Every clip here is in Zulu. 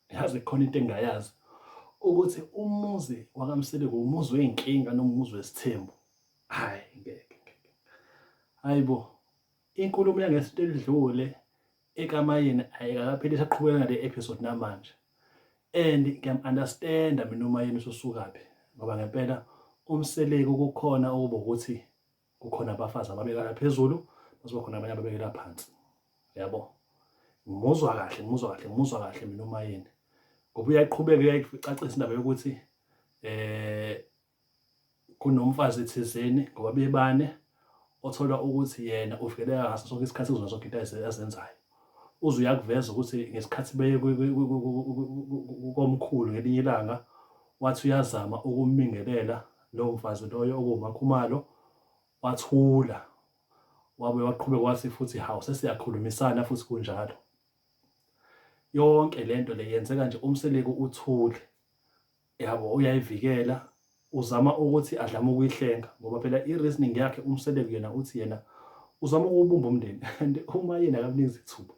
yazi khona into engayazi ukuthi umuzi wakamseleko umuzi wey'nkinga nomuzi wesithembu hhayi ngeke hhayi bo inkulumo yangesinto elidlule ekamayeni ayikakapheli saqhubeka ngale episode namanje and ngiyam-understanda mina umayeni ususukaphi ngoba ngempela umseleko kukhona okuba ukuthi kukhona abafazi ababekela phezulu kuzoba khona abanye ababekela phansi yabo ngimuzwa kahle ngimuzwa kahle ngimuzwa kahle mina umayeni ngoba uyayiqhubeka uyayicacisa indaba yokuthi eh kunomfazi thizeni ngoba bebane othola ukuthi yena uvikeleka ngaso sonke isikhathi kuzona zonke into azenzayo uze uyakuveza ukuthi ngesikhathi beye komkhulu ngelinye ilanga wathi uyazama ukumingelela lowo mfazi loyo okuwumakhumalo wathula wabe waqhubeka wathi futhi hawu sesiyakhulumisana futhi kunjalo yonke lento le yenzeka nje umseleku uthule yabo uyayivikela uzama ukuthi adlame ukuyihlenga ngoba phela i-reasoning yakhe umseleku yena uthi yena uzama ukubumba umndeni and uma yena akamnikeza ithuba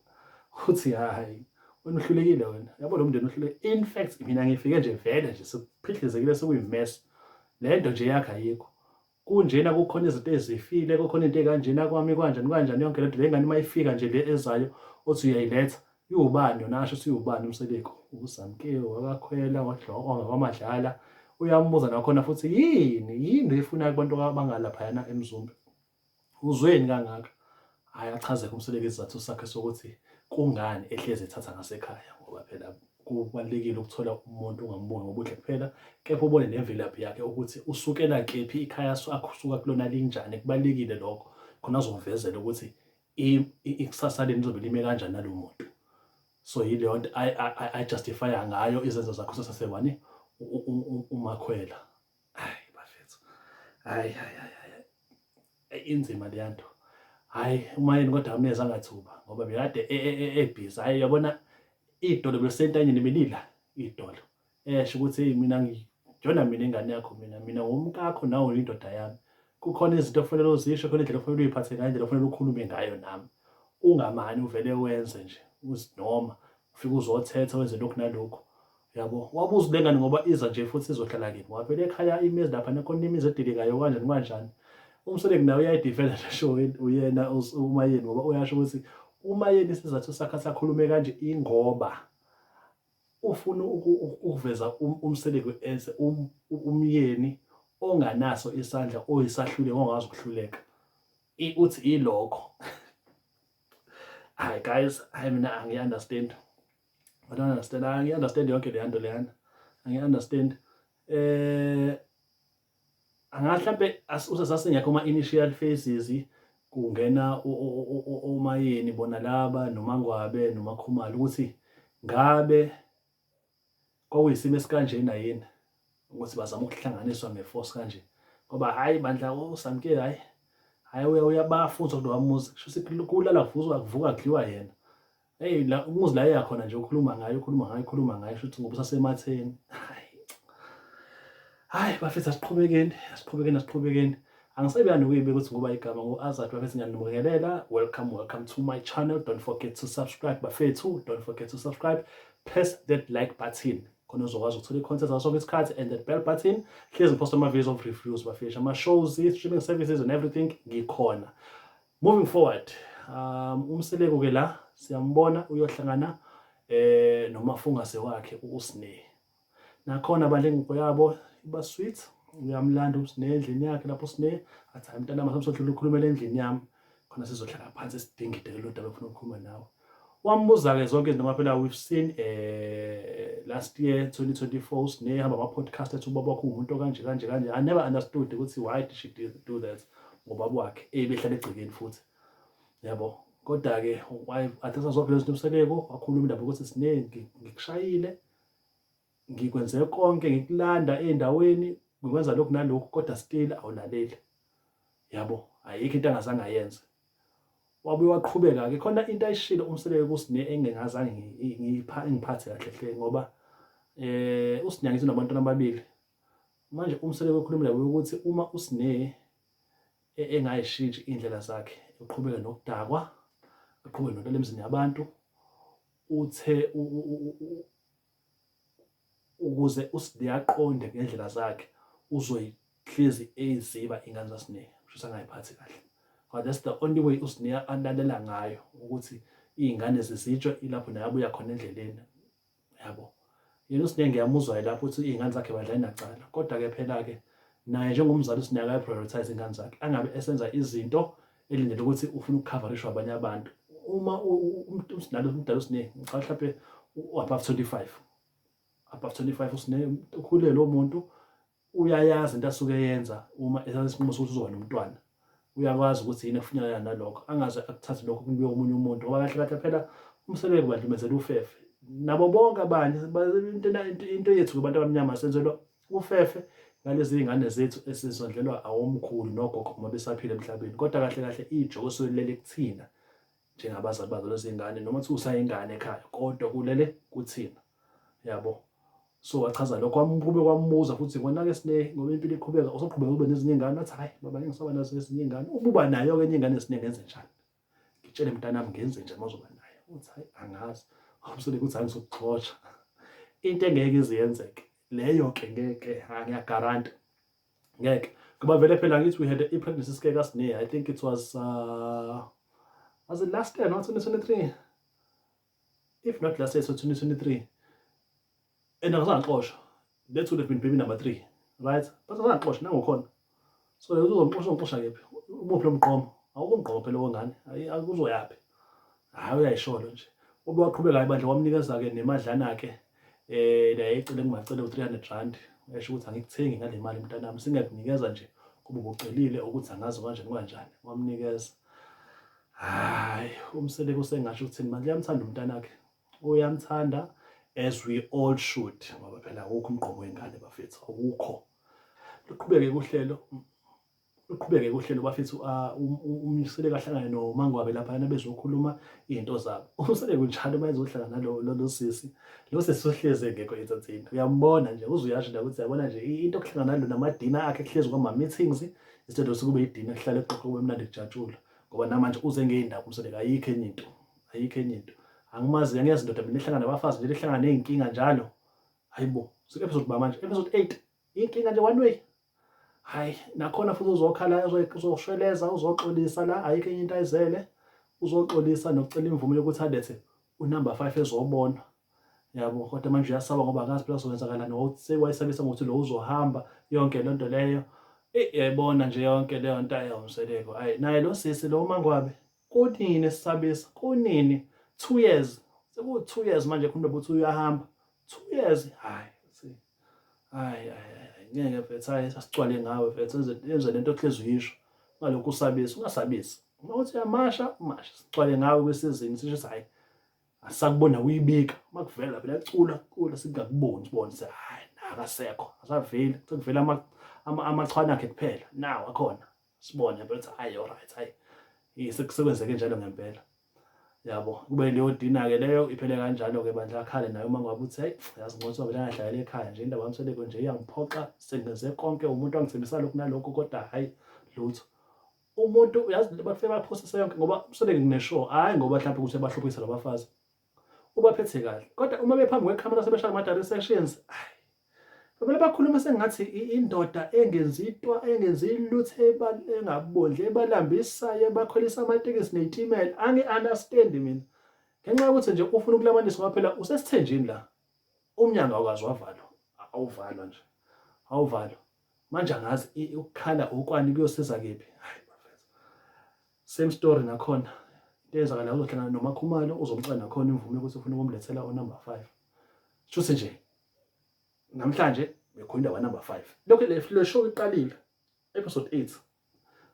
uthi hayi wena uhlulekile wena yabo lo mndeni uhlule in fact mina ngifike nje vele nje sekuphidlizekile sekuyimess le nto nje yakhe ayikho kunjena kukhona izinto ezifile kukhona into ekanjena kwami kwanjani kwanjani yonke lento lengane uma ifika nje le ezayo othi uyayiletha iwubani yona asho siwubani umseleko usamkeo wakakhwela wadloka wamadlala uyambuza nakhona futhi yini yini efuna abantu abangalaphayana emzumbe Uzweni kangaka? Hhayi achaze uMseleku isizathu sakhe sokuthi kungani ehlezi ethatha ngasekhaya ngoba phela kubalulekile ukuthola umuntu ungamuboni ngobuhle kuphela kepha ubone nemvelaphi yakhe ukuthi usukela kephi ikhaya asuka kulona linjani kubalulekile lokho khona azomvezela ukuthi ikusasa leni lizobe lime kanjani nalo muntu so yileyo nto ayijustifya ngayo izenzo zakhe usasewani umakhwela hayi bafethu hayi hayi hayi inzima leya nto hayi umayeni kodwa amneza angathuba ngoba bekade ebhizi hayi yabona idolo besentanyeni belila idolo esho ukuthi hey mina ngijona mina ingane yakho mina mina wumkakho nawe uyindoda yami kukhona izinto ofanele uzisho khona indlela ofanele uyiphathe ngayo indlela ofanele ukhulume ngayo nami ungamani uvele wenze nje uzinoma ufike uzothetha wenze lokhu nalokhu yabo wabuza le ngane ngoba iza nje futhi izohlala kini wavele ekhaya imizi lapha nekhona imizi edilikayo kanjani kanjani umsoleki nawe uyayidivela le show uyena umayeni ngoba uyasho ukuthi umayeni isizathu sakhe sakhulume kanje ingoba ufuna ukuveza um-, umseleki enze um-, umyeni onganaso isandla oyisahluleko ongazi ukuhluleka uthi ilokho hayi guys hayi mina angiyi-understand i don't understand angiyi-understand yonke leya nto leyana angiyi-understand eh angathi mhlampe usasasingekho ama-initial phases kungena omayeni bona laba nomangwabe nomakhumalo ukuthi ngabe Kwakuyisimo esikanjena yini ukuthi bazama ukuhlanganiswa ngeforce kanje ngoba hhayi bandla uSamke hhayi hhayi uya uyabafa uzwa kulowa muzi kusho ukuthi kulala kuvuzwa kuvuka kudliwa yena eyi la umuzi la eya khona nje ukhuluma ngayo ukhuluma ngayo ukhuluma ngayo kusho ukuthi ngoba usasematheni hhayi hayi bafethu asiqhubekeni asiqhubekeni asiqhubekeni angisebeya nokuyibeka ukuthi ngoba igama ngu-azad bafethu ngiyanibingelela welcome welcome to my channel don't forget to subscribe bafethu don't forget to subscribe press that like button khona uzokwazi ukuthola i-content ngaso sonke isikhathi and that bell button hlezi ngiphosta ama-videos of reviews bafethu ama-shows i-streaming services and everything ngikhona moving forward um umseleku ke la siyambona uyohlangana eh nomafungase wakhe uSne nakhona bandla ingubo yabo iba sweet uyamlanda usine endlini yakhe lapho sine athi hayi mntanami asamsodlula ukhulumela endlini yami khona sizohlala phansi sidingide lelo daba ofuna ukukhuluma nawe wambuza-ke zonke izinto ngoba phela we've seen um last year 2024 sinehamba ama-podcast athi ubaba wakho uwumuntu okanje kanje kanje i never understood ukuthi why did she do that ngobaba wakhe ebehlala egcekeni futhi yabo kodwa-ke athatha zonke lezi nto umseleko wakhuluma indaba ukuthi siningi ngikushayile ngikwenze konke ngikulanda ey'ndaweni ngikwenza lokhu nalokhu kodwa still awulaleli yabo ayikho into angazange ayenze wabuye waqhubeka-ke khona into ayishilo umseleke kusine engingazange ngiphathe kahle hle ngoba eh usinyangithi nabantwana ababili manje umseleke okhulumela ukuthi uma usine e, engayishintshi indlela zakhe uqhubeke nokudakwa uqhubeke nokudlala emzini yabantu Uthe ukuze uSidiya aqonde ngendlela zakhe uzoyihlezi eyiziba ingane zaSineya kusho angayiphathi kahle but that's the only way uSineya alalela ngayo ukuthi iy'ngane zizitshwe ilapho naye abuya khona endleleni yabo yena uSine ngiyamuzwa lapho uthi iy'ngane zakhe badlali nacala kodwa-ke phela-ke naye njengomzali uSine akayi-prioritize iy'ngane zakhe angabe esenza izinto elindele ukuthi ufuna ukukhavarishwa abanye abantu uma umdala umdala uSine ngicabanga mhlawumpe u-above 25 above 25 uSine ukhulele lo muntu uyayazi into asuke eyenza uma ethatha isinqumo sokuthi uzoba nomntwana uyakwazi ukuthi yini efunyanana nalokho angaze akuthathe lokho kubuye omunye umuntu ngoba kahle kahle phela umsebenzi ubandumezela ufefe nabo bonke abanye into yethu kubantu abamnyama senzelwa ufefe ngalezi iy'ngane zethu esizondlelwa awomkhulu nogogo uma besaphila emhlabeni kodwa kahle kahle ijokosuke lilele kuthina njengabazali bazo lezi ngane noma kuthiwa usayingane ekhaya kodwa kulele kuthina yabo so wachaza lokho wamqhube kwambuza futhi konake sine ngoba impilo iqhubeka usoqhubeka ube nezinye ingane wathi hayi baba ngisaba nazo ezinye ingane ububa nayo ke enye ingane sine ngenze njani ngitshele mntanami ngenze njani mazoba nayo uthi hayi angazi awumsole ukuthi hayi ngizokuxotsha into engeke iziyenzeke leyo ke ngeke ngiyagaranta ngeke ngoba vele phela ngithi we had a pregnancy scare kasine i think it was uh, was it last year no 2023 if not last year so 2023 and akazangixosha that would have been baby number 3 right but akazangixosha nangokhona so uzongixosha ngixosha kephi umuphi lo mqomo awukumgqomo phela wongane akuzoyaphi hayi uyayisholo nje ube waqhubeka hayi bandla wamnikeza-ke nemadlana-ke um naye ecele ngingacele u-three hundred rand esho ukuthi angikuthengi ngale mali mntanami singakunikeza nje kuba ubucelile ukuthi angazi kanjani kanjani wamnikeza hayi umseleko usengasho ukuthini manje uyamthanda umntanakhe uyamthanda as we all should ngoba phela awukho umgqomo wengane bafethu awukho luqhubeke kuhlelo uqhubeke uhlelo bafethu ah, um, um, umseleko ahlangane nomangwabe laphayana bezokhuluma iy'nto zabo umseleko njalo uma ezohlangana lo sisi lo sisi uhlezi engekho ensathini uyambona nje uze uyasho la ukuthi yabona nje into okuhlangana nalo namadina akhe kuhlezi kwama-meetings instead of sekube idina kuhlale kuxoxo kube mnandi kujatshulwa ngoba namanje uze ngey'ndaba umseleko ayikho enye into ayikho enye into angimazi angiyazi ndoda mina ehlangana abafazi nje ehlangana ney'nkinga njalo hayibo sike-episode ba manje episode eight inkinga nje one way hayi nakhona futhi uzokhala uzoshweleza uzoxolisa la ayikho enye into ayizele uzoxolisa nokucela imvume yokuthi alethe unumber 5 ezobona yabo kodwa manje uyasaba ngoba akazi phela sokwenzakala nokuthi wayesabisa ngokuthi lo uzohamba yonke lento leyo yayibona nje yonke leyo nto ayawumseleko ayi naye lo sisi lo mangwabe kunini esisabisa kunini 2 years seku 2 years manje khona ukuthi uyahamba 2 years hayi hayi ngeke mfethu hayi sasicwale ngawe mfethu enze lento ohlezi uyisho ngalokhu usabisa ungasabisi uma uthi uyamasha umasha sicwale ngawe kwesizini sisho ukuthi hayi asakubona uyibika uma kuvela phela cula cula singakuboni sibone se hayi nakasekho asaveli sekuvela amachwana akhe kuphela nawo akhona sibone mfethu hayi alright hayi sekwenzeke njalo ngempela yabo kube into yodina-ke leyo iphele kanjalo-ke bandla akhale naye uma ngabe uthe yazi ngothi wabele angadlalela ekhaya nje indaba yamseleko nje iyangiphoxa sengenze konke umuntu angithembisa lokhu nalokhu kodwa hhayi lutho umuntu uyazi bafike baphosise yonke ngoba useleke ngineshow hhayi ngoba mhlawumbe ukuthi bahluphisa labafazi ubaphethe kahle kodwa uma bephambi kwekhamera sebeshaya ama-direct sections Bebele bakhuluma sengathi indoda engenzitwa engenzi lutho engabondle ebalambisayo ebakhwelisa amatekisi neyitimela angi understand mina ngenxa yokuthi nje ufuna ukulamanisa ngoba phela usesithenjini la umnyango awukazi wavalwa awuvalwa nje awuvalwa manje angazi ukukhala ukwani kuyosiza kephi same story nakhona into eyenzakala uzohlangana nomakhumalo uzomcela nakhona imvume ukuthi ufuna ukumlethela unumber five shuthi nje namhlanje bekhona indawo number 5 lokho le le show iqalile episode 8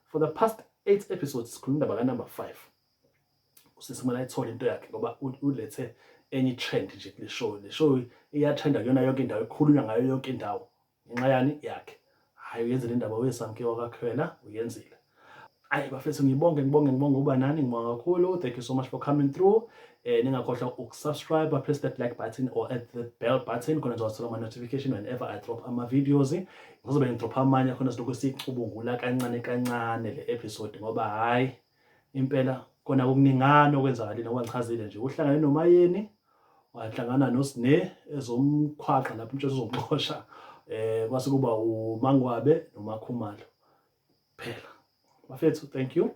for the past 8 episodes sikhuluma indaba ka number 5 usisi kumele ayithole into yakhe ngoba ulethe enye trend nje kule show le show iyathanda kuyona yonke indawo ekhulunywa ngayo yonke indawo ngenxa yani yakhe hayi uyenzile indaba wesamke wakakhwela uyenzile ayi bafethu ngibonge ngibonge ngibonge uba nani ngibonga kakhulu thank you so much for coming through eh ningakhohlwa ukusubscribe press that like button or at the bell button khona nizothola ama notification whenever i drop ama videos ngizobe ngidrop amanye khona silokhu sicubungula kancane kancane le episode ngoba hayi impela kona kuningana okwenzakalile ngoba ngichazile nje uhlangane nomayeni wahlangana noSne ezomkhwaqa lapho umtshela uzomxosha eh kwase kuba uMangwabe noMakhumalo phela bafethu thank you